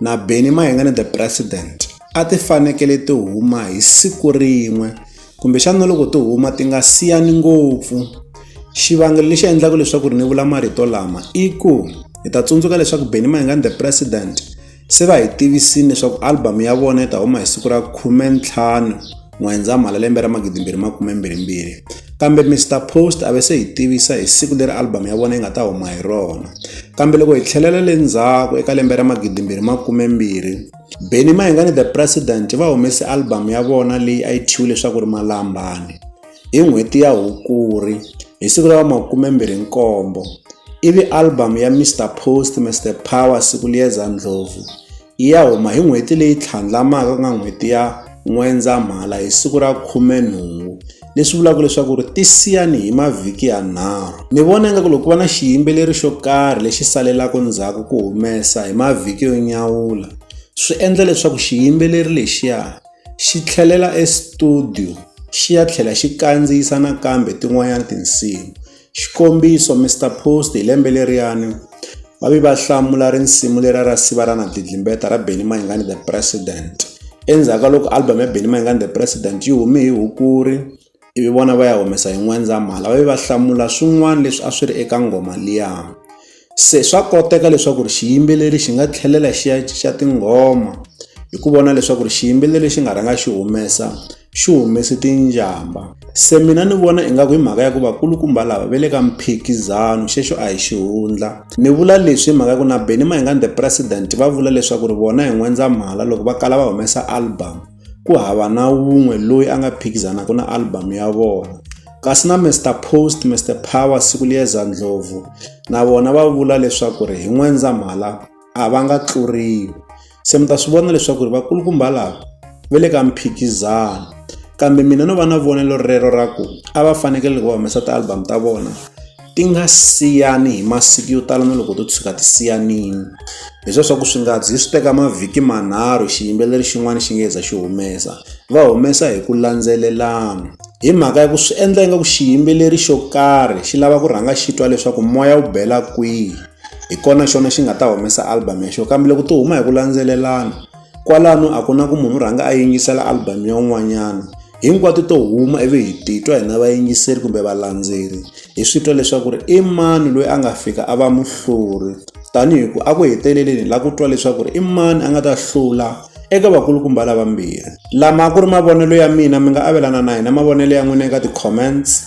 na Benny Mahingane the President a ti fanekele ti huma hi siku rin'we kumbexana loko ti huma ti nga siyani ngopfu xivangelo lexi endlaka leswaku ri ni vula marito lama i ku hi ta tsundzuka leswaku Benny Mahingane the President se va hi tivisini leswaku album ya vona yi ta huma hi siku ra khumentlhanu N'wendzamhala lembe ra 2022, kambe Mister Post a ve se hi tivisa hi siku leri album ya vona yi nga ta huma hi rona. Kambe loko hi tlhelela le ndzhaku eka lembe ra 2020, Benny Mayengani The President va humese album ya vona leyi a yi thyiwe leswaku ri Malambani hi n'hweti ya Hukuri hi siku ra 27 ivi album ya Mister Post Mister Power siku liyeza Ndlhovu yi ya huma hi n'hweti leyi tlhandlamaka ku nga n'hweti ya N'wendzamhala hi siku ra khumenhungu leswi vulaka leswaku ri ti siyani hi mavhiki yanharhu ni vona ingaku loko ku va na xiyimbeleri xo karhi lexi salelaka ndzhaku ku humesa hi mavhiki yo nyawula swi endla leswaku xiyimbeleri lexiya xi tlhelela e-studio xi ya tlhela xi kandziyisa nakambe tin'wanyana tinsimu. Xikombiso, Mister Post hi lembe leriyani va vi va hlamula risimu lera ra siva ra na dlidlimbeta ra Benny Mayengani the President. Endzhaku ka loko album ya Benny Mayengani the President yi hume hi Hukuri ivi vona va ya humesa hi N'wendzamhala va vi va hlamula swin'wana leswi a swi ri eka nghoma liya. Se swa koteka leswaku ri xiyimbeleri xi nga tlhelela xi ya xa tinghoma hi ku vona leswaku ri xiyimbeleri lexi nga rhanga xi humesa xi humese tinjhamba se mina ni vona ingaku hi mhaka ya ku vakulukumba lava ve le ka mphikizano xexo a hi xihundla ni vula leswi hi mhaka ya ku na benny mayengani the president va vula leswaku ri vona hi n'wendzamhala loko va kala va humesa album. ku hava na wun'we loyi a nga phikizanaka na album ya vona kasi na Mister Post Mister Power Sikuliyeza Ndlovu na vona va vula leswaku ri hi N'wendzamhala a va nga tluriwi se mi ta swi vona leswaku ri vakulukumba lava va le ka mphikizano kambe mina no va na vonelo rero ra ku a va fanekele loko va humesa ti-album ta vona ti nga siyani hi masiku yo tala na loko to tshuka ti siyanile leswiya swa ku swi nga zi swi teka mavhiki manharhu xiyimbeleri xin'wana xi nga za xi humesa va humesa hi ku landzelelana hi mhaka ya ku swi endla ingaku xiyimbeleri xo karhi xi lava ku rhanga xi twa leswaku moya wu bela kwihi hi kona xona xi nga ta humesa album ya xona kambe loko to huma hi ku landzelelana kwalano a ku na ku munhu u rhanga a yingisela album ya un'wanyana hinkwato to huma ivi hi titwa hina vayingiseri kumbe valandzeri hi swi twa leswaku ri i mani loyi a nga fika a va muhluri tanihi ku a ku heteleleni la ku twa leswaku ri i mani a nga ta hlula eka vakulukumba lavambirhi lama ku ri mavonelo ya mina mi nga avelana na hina mavonelo ya n'wina eka ti-comments